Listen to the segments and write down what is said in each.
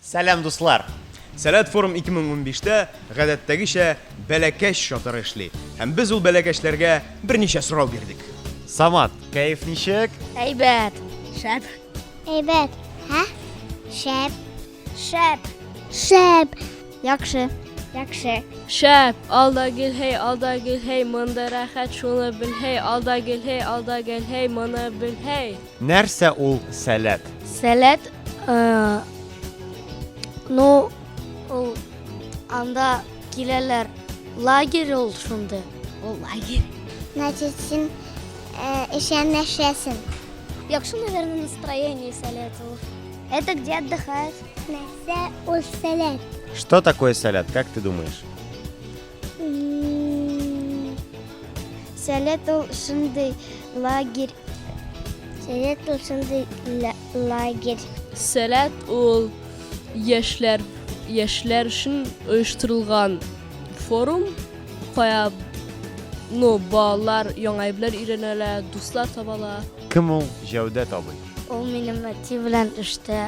Сәлам дуслар! Сәләт форум 2015 тә гадәттәгечә бәләкәч чатыры эшли. Һәм без ул бәләкәчләргә берничә сорау бирдек. Самат, кәеф ничек? Әйбәт. Шәп. Әйбәт. Һә? Шәп. Шәп. Шәп. Яхшы. Яхшы. Шәп, алда гелһей, алда гелһей, монда рәхәт, шуны белһей, алда гелһей, алда гелһей, моны белһей. Нәрсә ул сәләт? Сәләт, ну, ул анда киләләр. Лагерь ул шундый. Ул лагерь. Значит, син эшә нәрсәсен? Яхшы, наверное, настроение сәләт ул. Это где отдыхают. Нәрсә ул сәләт? Что такое сәләт, как ты думаешь? Сәләт ул шундый лагерь. Сәләт ул шундый лагерь. Сәләт ул яшьләр яшьләр өчен оештырылган форум, кая ну балалар яңа әйберләр өйрәнәләр, дуслар табалар. Кем ул Җәүдәт абый? Ул минем әти белән төштә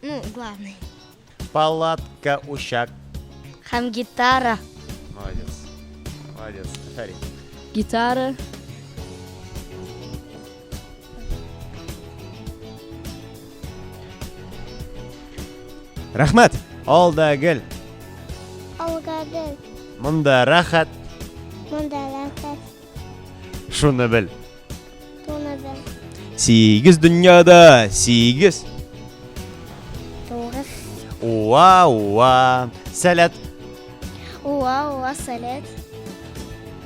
Ну, главный. Палатка, учак. Хам гитара. Молодец. Молодец. Афарин. Гитара. Рахмат. Алда гел. Алга гел. Монда рахат. Монда рахат. Шуны бел. Туны бел. Сигез дөньяда, сигез. Тугыз. Уа, уа, сәләт. Уа, уа, сәләт.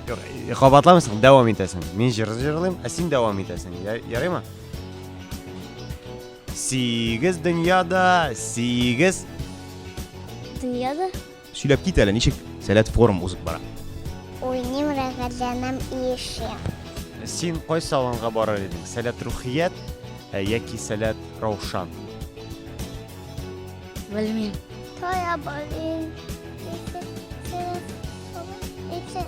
Кабатламыйсың, э, дәвам итәсең. Мин җыр җырлыйм, ә син дәвам итәсең. Ярыймы? Сигез дөньяда, сигез. Дөньяда? Сөйләп кит әле, ничек Сәләт форум узып бара? Уйныйм, рәхәтләнәм, иешәм. Син кайсы аланга барар идең? Сәләт рухият ә, яки Сәләт Раушан? Белмим. Тоя барыйм. Ите, ите, ите.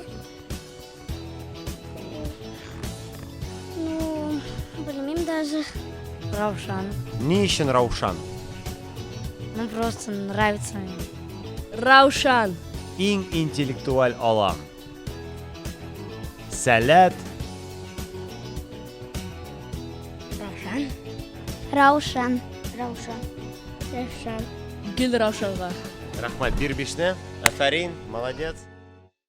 Ну, белмим даже. Раушан. Ни өчен Раушан? Ну, просто нравится мне. Раушан. Иң интеллектуаль алам. Сәләт. Раушан. Раушан. Раушан. Раушан. Гел Раушанга. Рәхмәт, бир бишне. Афәрин, молодец.